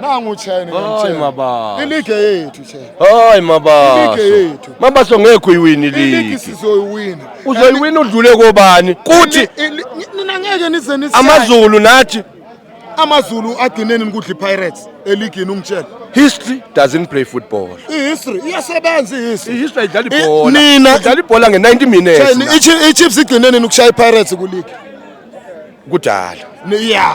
nangu chene hayi maba iligi yethu chene hayi maba iligi yethu maba so ngekho iwini iligi iligi sizoyiwina uzoyiwina udlule kobani kuthi nina ngeke nize nise amazulu nathi amazulu agineni nikudla ipirates eligini ungitshela history doesn't play football ihistory iyasebenza ihistory ihistory idlala ibhola nina idlala ibhola nge-90 minutes ichiefs igcineni nikushaya ipirates kuligi kudala ya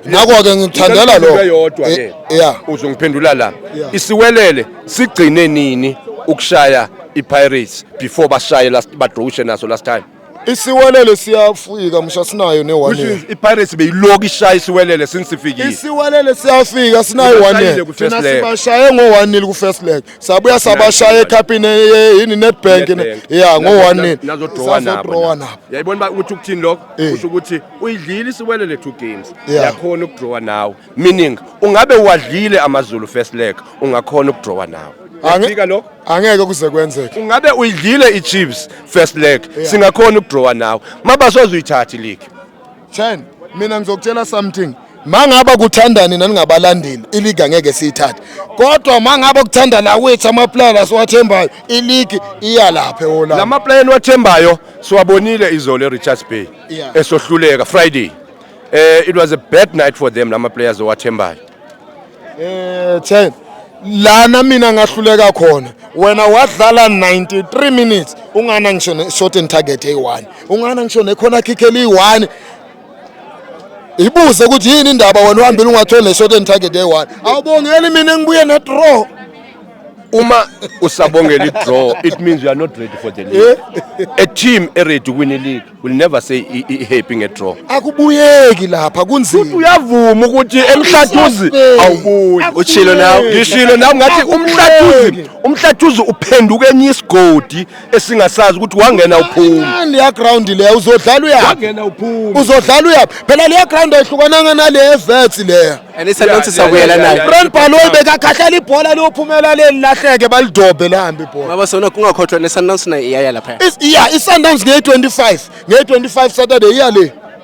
ngakho-ke ngikuthandela Into lokho eyodwa ke Eh, ya uzongiphendula la Yeah. isiwelele sigcine nini ukushaya ipirates before bashaye last badrowushe naso last time isiwelele siyafika msha sinayo ne-one which year means ipirates beyiloku ishaya isiwelele since sifikile isiwelele siyafika sinayo Ubashayile one year ku-first thina leg. sibashaye ngo-one nil ku-first leg sabuya sabashaye ekhapini eh, yini nedbank Nedbank. ya ngo-one nil Nazo- nazodrawa nabo Sazodrowa na. nabo yayibona uba ukuthi ukuthini lokho Eh. kusho ukuthi uyidlile isiwelele two games Yeah. yakhona ukudrawa nawo meaning ungabe uwadlile amazulu first leg ungakhona ukudrawa nawo Ange- Uyafika lokho angeke kuze kwenzeke ungabe uyidlile ichiefs first leg Yeah. singakhona ukudrawa nawo mabasoze uyithathe iligi Chen mina ngizokutshela something mangaba kuthandani naningabalandeli iligi angeke siyithathe kodwa mangaba kuthanda la wethu amaplayer siwathembayo iligi iya lapha eholanda la maplayer niwathembayo siwabonile izolo eRichards Bay yeah. esohluleka Friday eh it was a bad night for them lama players owathembayo eh ten lana mina ngahluleka khona wena wadlala 93 minutes ungana ngisho ne short and target eyi-1 ungana ngisho nekhona kick eliyi-1 ibuze ukuthi yini indaba wena uhambile ungatholi neshot and target eyi-one awubongeli mina ngibuye ne-draw uma usabongela i-draw it means you are not ready for the league eh? a team eready ukuwina ileague will never say i-happy nge-draw akubuyeki lapha kunzima uyavuma ukuthi emhlathuzi awubuyi ushilo nawe ngishilo nawe ngathi umhlathuzi umhlathuzi uphenduka enye isigodi esingasazi ukuthi wangena uphuma leya ground leya uzodlala uyaphi wangena uphuma uzodlala uyaphi phela leya ground ayihlukananga nale evets leya and it's not sakuyela nayo brand baloyi bekakhahlela ibhola liyophumela leli lahleke balidobe lihambe ibhola baba sona kungakhothwa nesundowns nayo iyaya lapha iya isundowns ngeye 25 ngeye 25 saturday iya le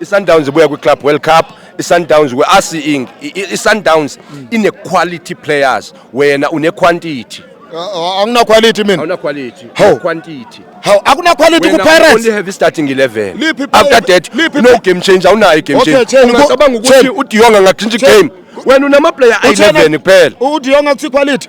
ISundowns ibuya kwiClub World Cup iSundowns we are seeing iSundowns ine quality players wena une quantity angina quality mina awuna quality How? quantity haw akuna quality ku Pirates only have starting 11 Liphi player- after that liphi no game change awunayo game Okay, change Chen, ubo- ungacabanga ukuthi Chen. uDionga ngatshintsha Chen. igame wena unama player Uthena- 11 kuphela uDionga kuthi quality